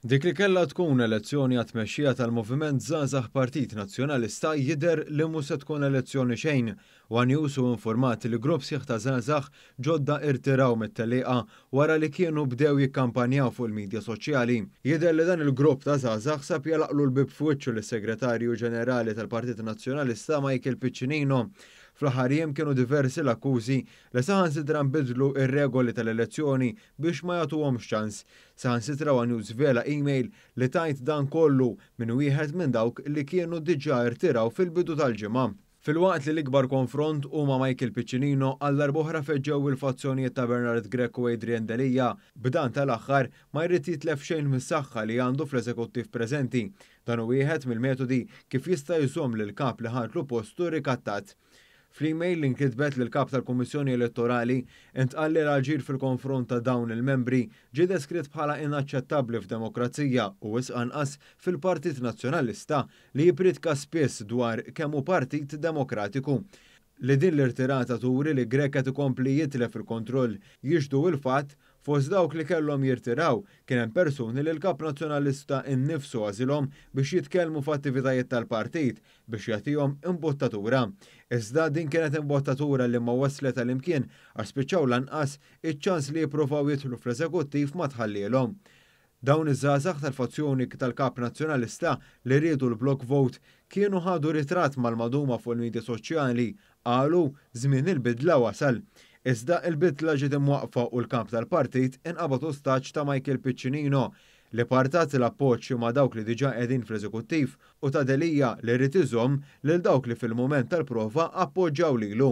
Dik li kellha tkun elezzjoni għat-tmexxija tal-Moviment Żgħażagħ Partit Nazzjonalista jidher li mhu se tkun elezzjoni xejn. One News hu informat li grupp sħiħ ta' żgħażagħ ġodda irtiraw mit-tellieqa wara li kienu bdew jikkampanjaw fuq il-midja soċjali. Jidher li dan il-grupp ta' żgħażagħ sab jagħlaqlu l-bieb f'wiċċu lis-Segretarju Ġenerali tal-Partit Nazzjonalista Michael Piccinino. Fl-aħħar jiem kienu diversi l-akkużi li saħansitra nbiddlu r-regoli tal-elezzjoni biex ma jagħtuhomx ċans. Saħansitra One-Youth żvela email li tgħid dan kollu minn wieħed minn dawk li kienu diġà irtiraw fil-bidu tal-ġimgħa. Filwaqt li l-ikbar konfront hu ma' Michael Piccinino, għal darb'oħra feġġew il-fazzjonijiet ta' Bernard Grech u Adrian Delia, b'dan tal-aħħar ma jrid jitlef xejn mis-saħħa li għandu fl-eżekuttiv preżenti. Dan hu wieħed mill-metodi kif jista' jżomm lill-kap li ħadlu postu rikattat. Fl-email li nkitbet lill-Kap tal-Kummissjoni Elettorali, intqal li l-aġir fil-konfront ta' dawn il-membri ġie deskritt bħala inaċċettabbli f'demokrazija u wisq anqas fil-Partit Nazzjonalista li jippriedka spiss dwar kemm hu partit demokratiku. Li din l-irtirata turi li Grech qed ikompli jitlef il-kontroll jixhdu il-fatt, fost dawk li kellhom jirtiraw, kien hemm persuni li l-Kap Nazzjonalista innifsu għażilhom biex jitkellmu f'attivitajiet tal-partit, biex jagħtihom imbottatura. Iżda din kienet imbottatura li ma waslet għal imkien għax spiċċaw lanqas iċ-ċans li jippruvaw jidħlu fl-eżekuttiv ma tħallielhom. Dawn iż-żgħażagħ tal-fazzjoni tal-Kap Nazzjonalista li riedu l-block vote kienu ħadu ritratt mal-maduma fuq il-midja soċjali, qalu żmien il-bidla wasal. Iżda il-bidla ġiet imwaqqfa u l-Kap tal-Partit inqabad ostaġġ ta' Michael Piccinino li partat l-appoġġ ma' dawk li diġà qegħdin fl-Eżekuttiv u ta' Delia li ried iżomm lil dawk li fil-mument tal-prova appoġġaw lilu.